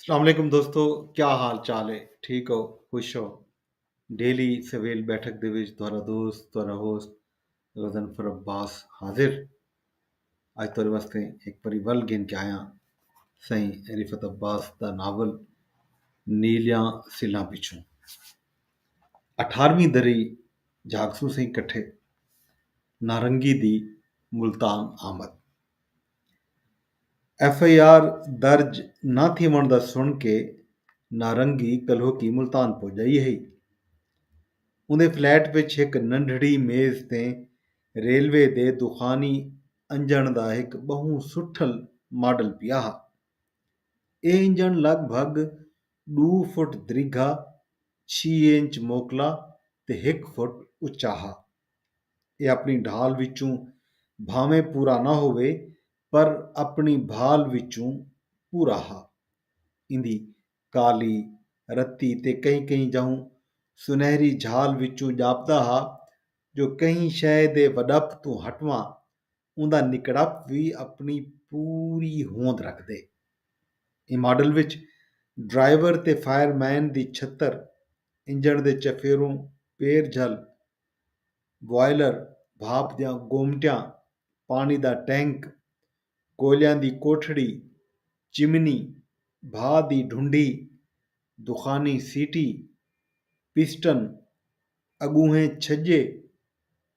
السلام علیکم دوستو کیا حال چال ہے ٹھیک ہو خوش ہو ڈیلی سویل بیٹھک دے وچ تہاڈا دوست تہاڈا ہوسٹ غزن فر عباس حاضر اج تہاڈے واسطے ایک پری ول گھن کے آیا سائیں رفت عباس دا ناول نیلیاں سلاں پچھوں اٹھارویں دری جھاگسوں سائیں کٹھے نارنگی دی ملتان آمد ایف آئی آر درج نہ تھیوݨ دا سݨ کے نارنگی کلہوکی ملتان پڄائی ہئی۔ اوندے فلیٹ وچ ہک ننڈھڑی میز تے ریلوے دے دخانی انڄݨ دا ہک ٻہوں سٹھل ماڈل پیا ہا۔ اے انڄݨ لڳ بھڳ ݙو فٹ دریگھا، چھی انچ موکلا تے ہک فٹ اچا ہا۔ ایہ اپݨی ڈھال وچوں بھانویں پورا نہ ہووے پر اپݨی بھال وچوں پورا ہا۔ ایندی کالی، رتی تے کہیں کہیں جاہوں سنہری جھال وچوں ڄاپدا ہا جو کہیں شئے دے وݙپ توں ہٹواں اوندا نکڑپ وی اپݨی پوری ہوند رکھدے۔ ایں ماڈل وچ ڈرائیور تے فائر مین دی چھتر، انجݨ دے چفیروں پیر جھل، بوائلر، بھاپ دیاں گومٹیاں، پاݨی دا ٹینک، کوئلیاں دی کوٹھڑی، چمنی، بھا دی ڈھنڈی، دخانی سیٹی، پسٹن، اڳونہیں چھڄے،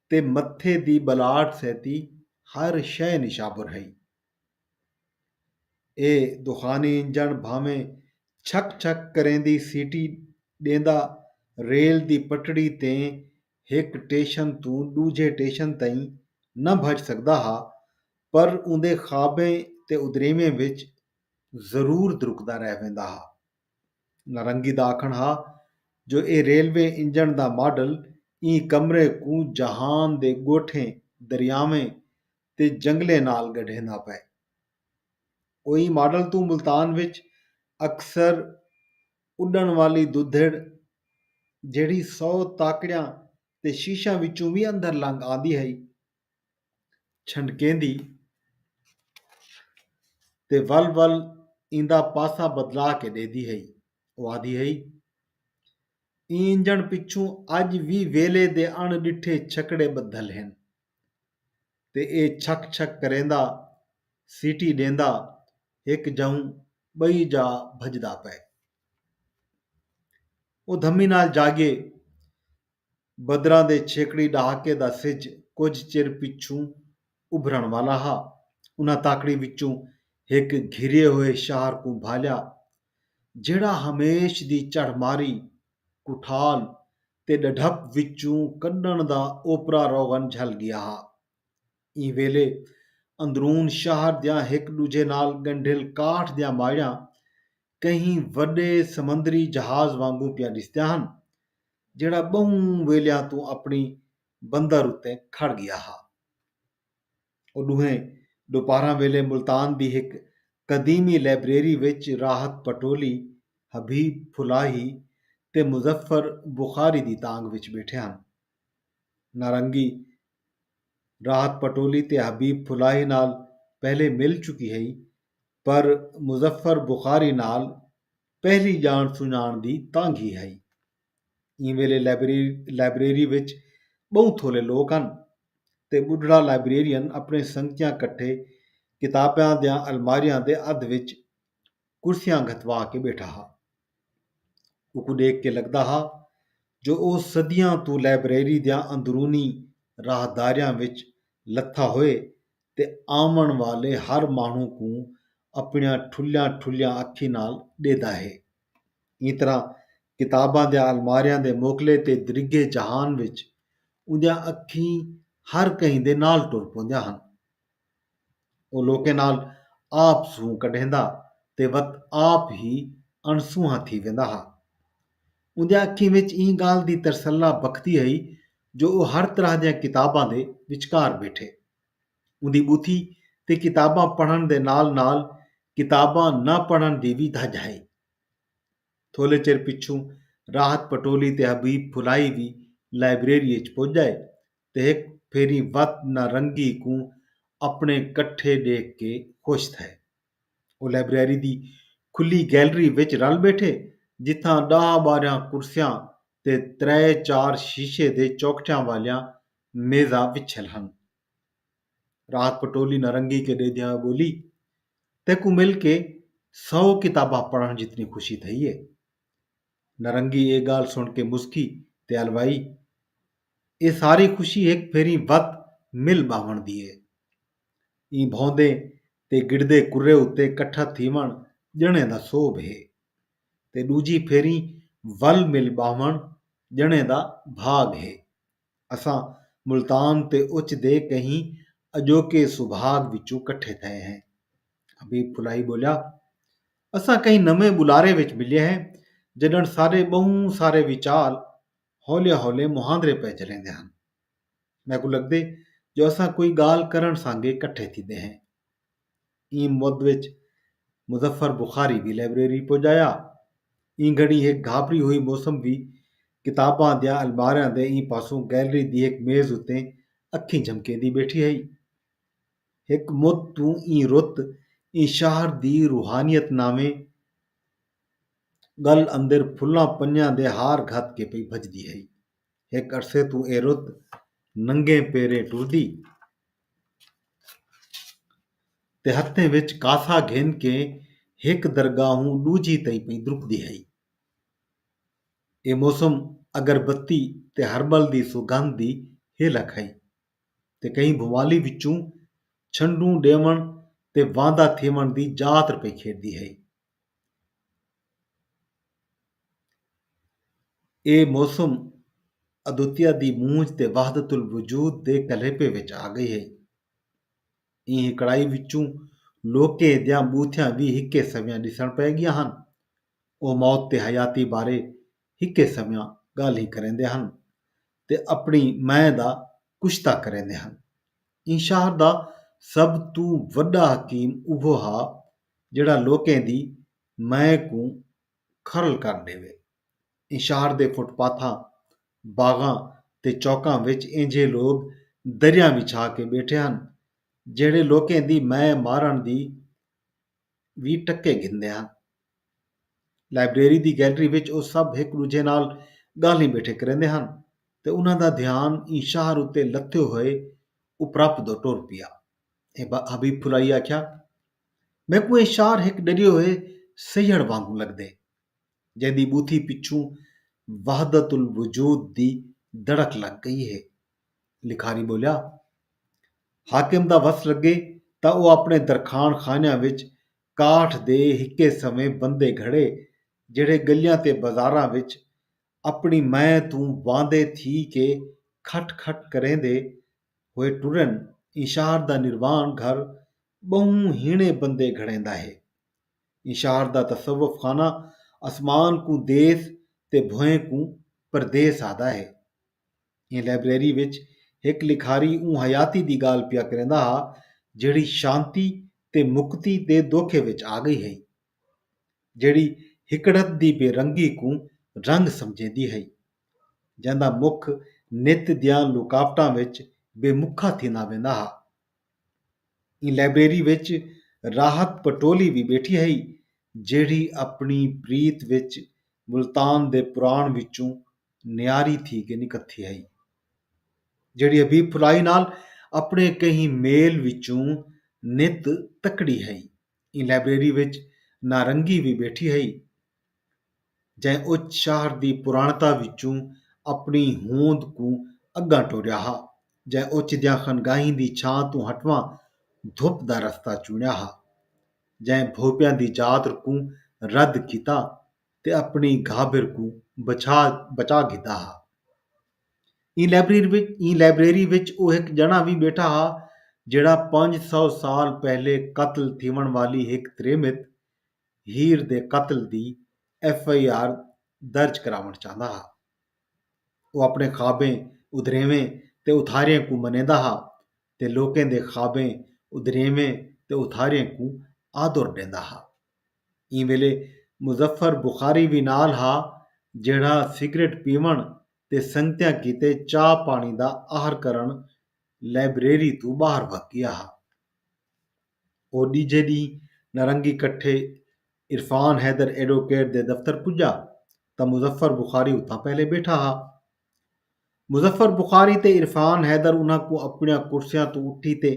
تے متھے دی ٻلاٹ سیتی ہر شئے نشابر ہئی۔ اے دخانی انجݨ بھانویں چھک چھک کریندی سیٹی ݙیندا ریل دی پٹڑی تیں ہک ٹیشن توں ݙوجھے ٹیشن تئیں نہ بھڄ سڳدا ہا پر اوندے خوابیں تے ادریویں وچ ضرور درکدا رہ ویندا ہا۔ نارنگی دا آکھݨ ہا جو اے ریلوے انجݨ دا ماڈل ایں کمرے کوں جہان دے ڳوٹھیں، دریاویں تے جنگلیں نال ڳڈھیندا پئے۔ او ایں ماڈل توں ملتان وچ اکثر اݙݨ والی ددھڑ جیڑھی سو تاکڑیاں تے شیشیاں وچوں وی اندر لنگھ آندی ہئی، چھنڈکیندی تے ول ول ایندا پاسا بدلا کے ڈیندی ہئی۔ او آندی ہئی۔ ایں انجݨ پچھوں اڄ وی ویلھے دے اݨ ݙٹھے چھکڑے ٻدھل ہن تے اے چھک چھک کریندا، سیٹی ݙیندا ہک جاہوں ٻئی جاہ بھڄدا پئے۔ او دھمی نال جاڳے۔ بدراں دے چھیکڑی ݙہاکے دا سجھ کجھ چر پچھوں ابھرݨ والا ہا۔ انہاں تاکڑی وچوں ہک گھریے ہوئے شہر کوں بھالیا، جیڑھا ہمیش دی چڑھ ماری، کٹھال تے ݙڈھپ وچوں کݙݨ دا اوپرا روغن جھل ڳیا ہا۔ ایں ویلے اندرون شہر دیاں ہک ݙوجھے نال ڳنڈھیل کاٹھ دیاں ماڑیاں کہیں وݙے سمندری جہاز وانگوں پیاں ݙسدیاں ہن۔ جیہڑا ٻہوں ویلیاں توں اپݨی بندر اتے کھڑ ڳیا ہا۔ او ݙوہیں ݙوپہراں ویلے ملتان دی ہک قدیمی لائبریری وچ راحت پٹولی، حبیب پھلاہی تے مظفر بخاری دی تانگھ وچ ٻیٹھے ہن۔ نارنگی راحت پٹولی تے حبیب پھلاہی نال پہلے مل چکی ہئی پر مظفر بخاری نال پہلی ڄاݨ سنڄاݨ دی تانگھی ہئی۔ ایں ویلے لائبریری وچ ٻہوں تھولے لوک ہن تے ٻڈھڑا لائبریرین اپݨے سنگتیاں کٹھے کتاباں دیاں الماریاں دے ادھ وچ کرسیاں گھتوا کے ٻیٹھا ہا۔ اونکوں ݙیکھ کے لڳدا ہا جو او صدیاں توں لائبریری دیاں اندرونی راہداریاں وچ لتھا ہوئے تے آوݨ والے ہر ماݨوں کوں اپݨیاں ٹھلیاں ٹھلیاں اکھیں نال ݙیہدا ہے۔ ایں طرح کتاباں دیاں الماریاں دے موکلے تے درگھے جہان وچ اوندیاں اکھیں ہر کہیں دے نال ٹر پوندیاں ہن۔ او لوکیں نال آپ سونہہ کڈھیندا تے وت آپ ہی اݨ سونہا تھی ویندا ہا۔ اوندیاں اکھیں وچ ایں ڳالھ دی ترسلا بکھدی ہئی جو او ہر طرح دیاں کتاباں دے وچکار ٻیٹھے۔ اوندی ٻوتھی تے کتاباں پڑھݨ دے نال نال کتاباں نہ پڑھݨ دی وی دھڄ ہئی۔ تھولے چر پچھوں راحت پٹولی تے حبیب پھلائی وی لائبریری اچ پڄ ڳئے تے ہک پھیری وت نہ رنگی کوں اپݨے کٹھے ݙیکھ کے خوش تھئے۔ او لائبریری دی کھلی گیلری وچ رل ٻیٹھے جتھاں ݙاہ ٻارہاں کرسیاں تے ترے چار شیشے دے چوکٹھیاں والیاں نیزہ وچھل ہن۔ رات پٹولی نرنگی کے ڈے دیا بولی تیکوں مل کے سو کتاباں پڑھن جتنی خوشی تھئی ہے۔ نرنگی اے گالھ سن کے مسکی تے الوائی اے ساری خوشی ہک پھیریں وت مل باہون دی ہے۔ ایں بھوندے تے گڑدے کرے اتے کٹھا تھیون جنیں دا سوبھ ہے تے ڈوجھی پھیریں ول مل باہون جنیں دا بھاگ ہے۔ اساں ملتان تے اچ دے کہیں اڄوکے سبھاڳ وچوں کٹھے تھئے ہیں۔ حبیب پھلائی ٻولیا، اساں کہیں نویں ٻلارے وچ ملئے ہیں جݙݨ ساݙے ٻہوں سارے وچال ہولے ہولے مہاندرے پئے چلیندے ہن۔ میکوں لڳدے جو اساں کوئی ڳالھ کرݨ سانگے کٹھے تھیندے ہیں۔ ایں مد وچ مظفر بخاری دی لائبریری پڄایا۔ ایں گھݨی ہک گھاپری ہوئی موسم وی کتاباں دیاں الماریاں دے ایں پاسوں گیلری دی ہک میز اتے اکھیں جھمکیندی ٻیٹھی ہئی۔ ہک مد توں ایں رت ایں شہر دی روحانیت ناویں ڳل اندر پھلاں پنیاں دے ہار گھت کے پئی بھڄدی ہئی۔ ہک عرصے توں اے رت ننگے پیریں ٹردی۔ تے ہتھیں وچ کاسہ گھن کے ہک درگاہوں ݙوجھی تئیں پئی درکدی ہئی۔ اے موسم اگر بتی تے ہرٻل دی سوگندھ دی ہیلک ہئی تے کہیں بھوالی وچوں چھنڈوں ݙیوݨ تے واندا تھیوݨ دی جاتر پئی کھیݙدی ہئی۔ اے موسم ادوتیا دی مونجھ تے وحدت الوجود دے کلیپے وچ آ ڳئی ہئی۔ ایں ہکڑائی وچوں لوکیں دیاں ٻوتھیاں وی ہکے سویاں ݙسݨ پئے ڳیاں ہن۔ او موت تے حیاتی بارے ہکے سویاں ڳالھیں کریندے ہن تے اپݨی مئے دا کشتہ کریندے ہن۔ ایں شہر دا سب توں وݙا حکیم اوہو ہا جیڑھا لوکیں دی مئے کوں کھرل کر ݙیوے۔ انشار دے فٹ پاتھاں، باغاں تے چوکاں وچ اینجھے لوک دریاں وچھا کے ٻیٹھے ہن جیڑھے لوکیں دی مئے مارݨ دی وی ٹکے گھندے ہن۔ لائبریری دی گیلری وچ او سب ہک ݙوجھے نال ڳالھیں ٻیٹھے کریندے ہن تے انہاں دا دھیان انشار اتے لتھے ہوئے اپرپ دو ٹر پیا۔ اے با حبیب پھلائی آکھیا میکوں اے شار ہک ڈریے ہوئے سیہڑ وانگوں لگدے جیندی بوتھی پچھوں وحدت الوجود دی دڑک لگ گئی ہے لکھاری بولیا حاکم دا وس لگے تاں او اپنے درکھان خانیاں وچ کاٹھ دے ہکے سویں بندے گھڑے جیڑھے گلیاں تے بازاراں وچ اپنی مئیں توں واندے تھی کے کھٹ کھٹ کریندے ہوئے ٹرن ایں شہر دا نروان گھر ٻہوں ہیݨے بندے گھڑیندا ہے۔ ایں شہر دا تصوف خانہ اسمان کوں دیس تے بھوئیں کوں پردیس آہدا ہے۔ ایں لائبریری وچ ہک لکھاری اوں حیاتی دی ڳالھ پیا کریندا ہا جیڑھی شانتی تے مکتی دے دوکھے وچ آ ڳئی ہئی۔ جیڑھی ہکڑت دی بے رنگی کوں رنگ سمجھیندی ہئی۔ جیندا مکھ نت دیاں لکاوٹاں وچ بے مکھا تھیندا ویندا ہا۔ ایں لائبریری وچ راحت پٹولی وی ٻیٹھی ہئی جیڑھی اپݨی پریت وچ ملتان دے پراݨ وچوں نیاری تھی کے نکتھی ہئی۔ جیڑھی حبیب پھلائی نال اپݨے کہیں میل وچوں نت تکڑی ہئی۔ ایں لائبریری وچ نارنگی وی ٻیٹھی ہئی جئیں او شہر دی پراݨتا وچوں اپݨی ہوند کوں اڳاں ٹوریا ہا، جئیں او چدیاں خانگاہیں دی چھاں توں ہٹواں دھپ دا رستہ چوݨیا ہا، جئیں بھوپیاں دی ذات کوں رد کیتا، تے اپݨی گھابر کوں بچا گھدا ہا۔ ایں لائبریری وچ او ہک ڄݨا وی ٻیٹھا ہا جیڑھا پنج سو سال پہلے قتل تھیوݨ والی ہک تریمت ہیر دے قتل دی ایف آئی آر درج کراوݨ چاہندا ہا۔ او اپݨے خوابیں، ادھریویں تے اتھاریاں کوں منیندا ہا تے لوکیں دے خوابیں، ادھریویں تے اتھاریاں کوں آدر ݙیندا ہا۔ ایں ویلے مظفر بخاری وی نال ہا جیڑھا سگریٹ پیوݨ تے سنگتیاں کیتے چاہ پاݨی دا آہر کرݨ لائبریری توں ٻاہر وھگ ڳیا ہا۔ او ݙیجھے ݙینہہ نارنگی کٹھے عرفان حیدر ایڈوکیٹ دے دفتر پڄا تاں مظفر بخاری اتھاں پہلے ٻیٹھا ہا۔ مظفر بخاری تے عرفان حیدر انھاں کوں اپݨیاں کرسیاں توں اٹھی تے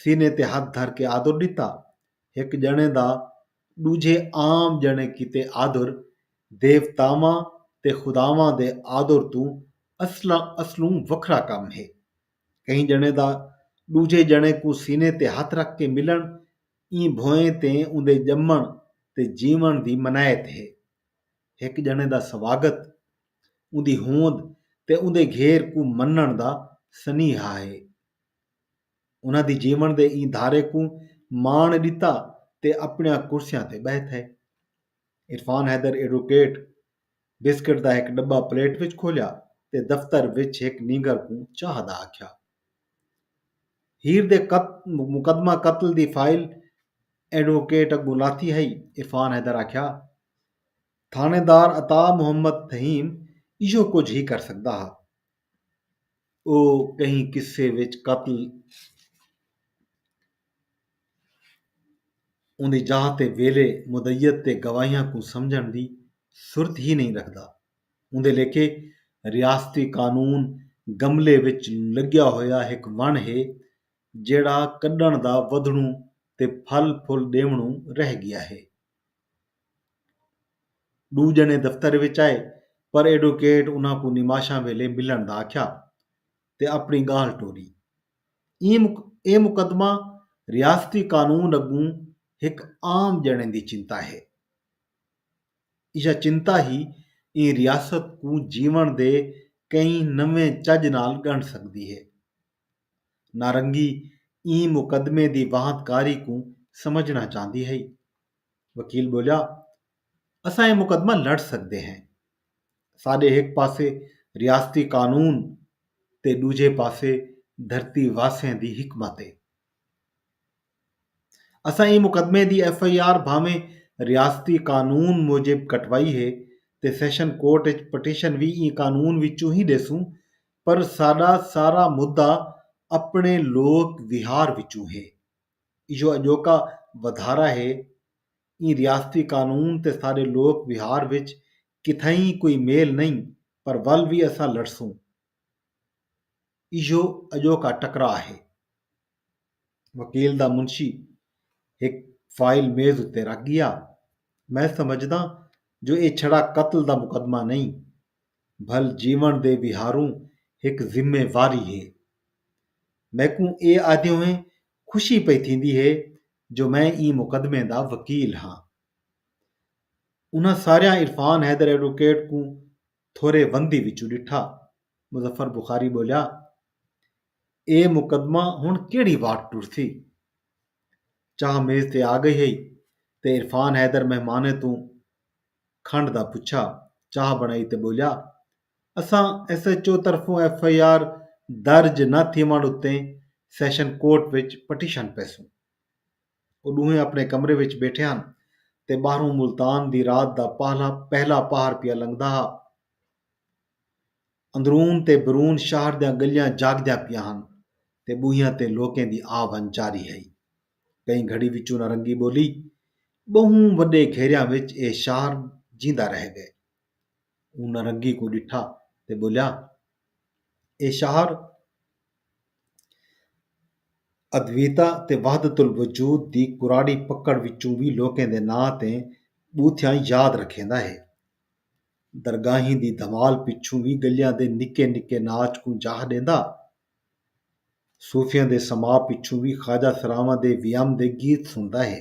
سینے تے ہتھ دھر کے آدر ݙتا ہک ڄݨے دا ݙوجھے عام ڄݨے کیتے آدر، دیوتاواں تے خداواں دے آدر توں اصلاں اصلوں وکھرا کم ہے۔ کہیں ڄݨے دا ݙوجھے ڄݨے کوں سینے تے ہتھ رکھ کے ملݨ ایں بھوئیں تے اوندے ڄمݨ تے جیوݨ دی منائت ہے۔ ہک ڄݨے دا سواڳت اوندی ہوند تے اوندے گھیر کوں منݨ دا سنیہا ہے۔ انہاں دی جیوݨ دے ایں دھارے کوں ماݨ ݙتا تے اپݨیاں کرسیاں تے ٻہہ تھئے۔ عرفان حیدر ایڈوکیٹ بسکٹ دا ہک ݙٻا پلیٹ وچ کھولیا تے دفتر وچ ہک نینگر کوں چاہ دا آکھیا۔ ہیر دے مقدمہ قتل دی فائل ایڈوکیٹ اڳوں لاتھی ہئی۔ عرفان حیدر آکھیا، تھاݨیدار عطا محمد فہیم ایہو کجھ ہی کر سڳدا ہا۔ او کہیں قصے وچ قتل اوندی جاہ تے ویلے مدعیت تے گواہیاں کوں سمجھݨ دی سرت ہی نئیں رکھدا۔ اوندے لیکھے ریاستی قانون گملے وچ لڳیا ہویا ہک وݨ ہے جیڑھا کݙݨ دا ودھݨوں تے پھل پھل ݙیوݨوں رہ ڳیا ہے۔ ݙو ڄݨے دفتر وچ آئے پر ایڈوکیٹ انہاں کوں نماشاں ویلے ملݨ دا آکھیا تے اپݨی ڳالھ ٹوری۔ اے مقدمہ ریاستی قانون اڳوں ہک عام ڄݨے دی چنتا ہے۔ ایہا چنتا ہی ایں ریاست کوں جیوݨ دے کئی نویں چڄ نال ڳݨ سڳدی ہے۔ نارنگی ایں مقدمے دی واہت کاری کوں سمجھݨا چاہندی ہئی۔ وکیل ٻولیا، اساں اے مقدمہ لڑ سڳدے ہیں۔ ساݙے ہک پاسے ریاستی قانون تے ݙوجھے پاسے دھرتی واسیں دی حکمت اے۔ اساں ایں مقدمے دی ایف آئی آر بھانویں ریاستی قانون موجب کٹوائی ہے تے سیشن کورٹ اچ پٹیشن وی ایں قانون وچوں ہی ݙیسوں پر ساݙا سارا مدعا اپݨے لوک وہار وچوں ہے۔ ایہو اڄوکا ودھارا ہے۔ ایں ریاستی قانون تے ساݙے لوک وہار وچ کتھائیں کوئی میل نئیں پر ول وی اساں لڑسوں۔ ایہو اڄوکا ٹکرا ہے۔ وکیل دا منشی ہک فائل میز اتے رکھ گیا۔ میں سمجھداں جو ایہ چھڑا قتل دا مقدمہ نئیں بھل جیون دے ویہاروں ہک ذمہ واری ہے۔ میکوں ایہ آہدیویں خوشی پئی تھیندی ہے جو میں ایں مقدمے دا وکیل ہاں۔ انہاں ساریاں عرفان حیدر ایڈووکیٹ کوں تھورے وندی وچوں ݙٹھا۔ مظفر بخاری ٻولیا، اے مقدمہ ہݨ کیڑھی واٹ ٹرسی؟ چاہ میز تے آ ڳئی ہئی تے عرفان حیدر مہمانیں توں کھنڈ دا پچھا۔ چاہ بݨائی تے ٻولیا، اساں ایس ایچ او طرفوں ایف آئی آر درج نہ تھیوݨ اتے سیشن کورٹ وچ پٹیشن پیسوں۔ او ݙوہیں اپݨے کمرے وچ ٻیٹھے ہن تے ٻاہروں ملتان دی رات دا پہلا پہر پیا لنگھدا ہا۔ اندرون تے بیرون شہر دیاں ڳلیاں جاڳدیاں پیاں ہن تے ٻوہیاں تے لوکیں دی آ ونڄ جاری ہئی۔ کہیں گھڑی وچوں نہ رنگی ٻولی۔ ٻہوں وݙے گھیریاں وچ اے شہر جیندا رہ ڳئے۔ اوں نرنگی کوں ݙٹھا تے ٻولیا، ایہ شاعر ادویتا تے وحدت الوجود دی کراڑی پکڑ وچوں وی لوکیں دے ناں تے ٻوتھیاں یاد رکھیندا ہے۔ درگاہیں دی دھمال پچھوں وی ڳلیاں دے نکے نکے ناچ کوں جاہ ݙیندا۔ صوفیاں دے سماع پچھوں وی خواجہ سراواں دے ویام دے گیت سݨدا ہے۔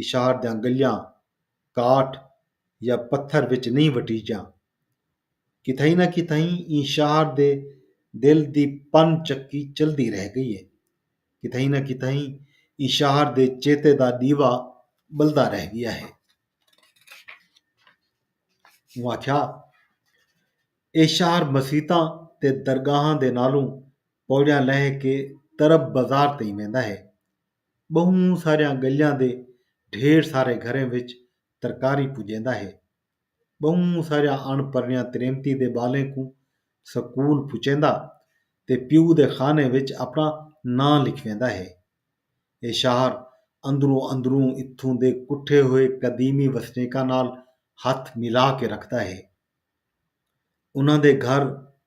اشار دیاں گلیاں کاٹھ یا پتھر وچ نئیں وٹیجاں۔ کتھائیں نہ کتھائیں ایں شہر دے دل دی پن چکی چلدی رہ ڳئی ہے۔ کتھائیں نہ کتھائیں ایں شہر دے چیتے دا ݙیوا ٻلدا رہ ڳیا ہے۔ اوں آکھیا اے شہر مسیتاں تے درگاہاں دے نالوں پوڑیاں لنگھ کے طرب بازار تئیں ویندا ہے۔ ٻہوں ساریاں ڳلیاں دے ڈھیر سارے گھریں وچ ترکاری پڄیندا ہے۔ ٻہوں ساریاں اݨ پرنیاں تریمتی دے ٻالیں کوں سکول پڄیندا تے پیو دے خانے وچ اپݨا ناں لکھویندا ہے۔ اے شاہر اندروں اندروں اتھوں دے کٹھے ہوئے قدیمی وسنیکاں نال ہتھ ملا کے رکھدا ہے۔ انہاں دے گھر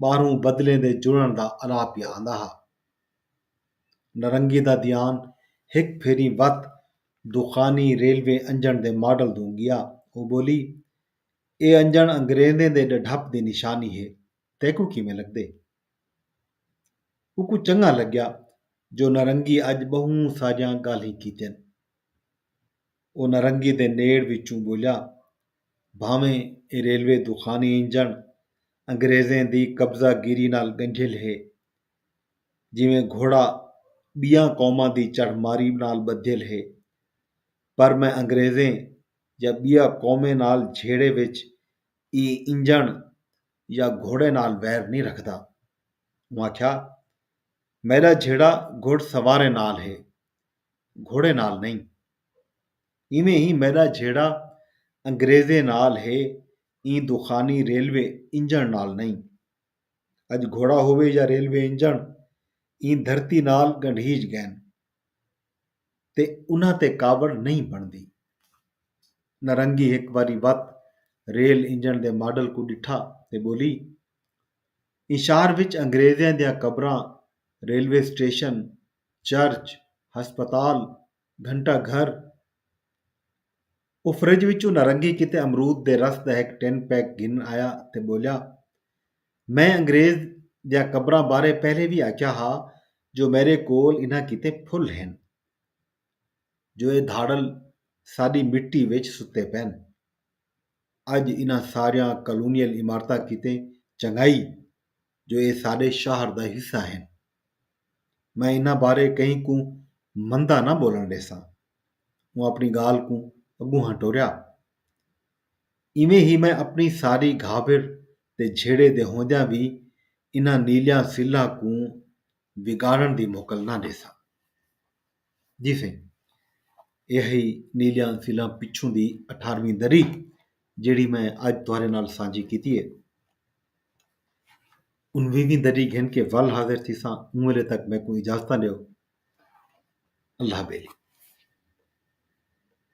ٻاہروں بدلیں دے جڑݨ دا اݙاہ پیا آندا ہا۔ نرنگی دا دیان ہک پھیریں وت دخانی ریلوے انجݨ دے ماڈل دوں ڳیا۔ او ٻولی، اے انجݨ انگریزیں دے ݙڈھپ دی نشانی ہے، تیکوں کیویں لڳدے؟ اوکوں چنڳاں لڳیا جو نرنگی اڄ ٻہوں ساریاں ڳالھیں کیتن۔ او نرنگی دے نیڑ وچوں ٻولیا، بھانویں اے ریلوے دخانی انجݨ انگریزیں دی قبضہ گیری نال ڳنجھل ہے، جیویں گھوڑا ٻیاں قوماں دی چڑھ ماری نال ٻدھیل ہے، پر میں انگریزیں یا ٻیا قومیں نال جھیڑے وچ ایں انجݨ یا گھوڑے نال ویر نئیں رکھدا۔ اوں آکھیا، میݙا جھیڑا گھڑ سواریں نال ہے۔ گھوڑے نال نئیں۔ ایویں ای میݙا جھیڑا انگریزیں نال ہے ایں دخانی ریلوے انجݨ نال نئیں۔ اڄ گھوڑا ہووے یا ریلوے انجݨ ایں دھرتی نال ڳنڈھیج ڳئن تے انہاں تے کاوڑ نئیں بݨدی۔ نرنگی ہک واری وت ریل انجݨ دے ماڈل کوں ݙٹھا تے ٻولی۔ ایں شہر وچ انگریزیں دیاں قبراں، ریلوے سٹیشن چرچ، ہسپتال، گھنٹہ گھر۔ او فرج وچوں نارنگی کیتے امرود دے رس دا ہک ٹن پیک گھن آیا تے ٻولیا، میں انگریز دیاں قبراں بارے پہلے وی آکھیا ہا جو میݙے کول انہاں کیتے پھل ہن جو اے دھاڑل ساݙی مٹی وچ ستے پئن۔ اڄ انہاں ساریاں کالونیل عمارتاں کیتے چنڳائی جو ایہ ساڈے شہر دا حصہ ہن۔ میں انہاں بارے کہیں کوں مندا نہ بولن ڈیساں۔ اوں اپنی گالھ کوں اگونہاں ٹوریا۔ ایویں ہی میں اپنی ساری گھابر تے جھیڑے دے ہوندیاں وی انہاں نیلیاں سلھاں کوں وگاڑݨ دی موکل نہ ݙیساں۔ جی سئیں۔ ایہ ہئی نیلیاں سیلاں پچھوں دی اٹھارویں دری جیڑھی میں اڄ تہاݙے نال سانجھی کیتی ہے۔ انویہویں دری گھن کے ول حاضر تھیساں اوں ویلے تک میکوں اجازتاں ݙیو۔ اللہ ٻیلی۔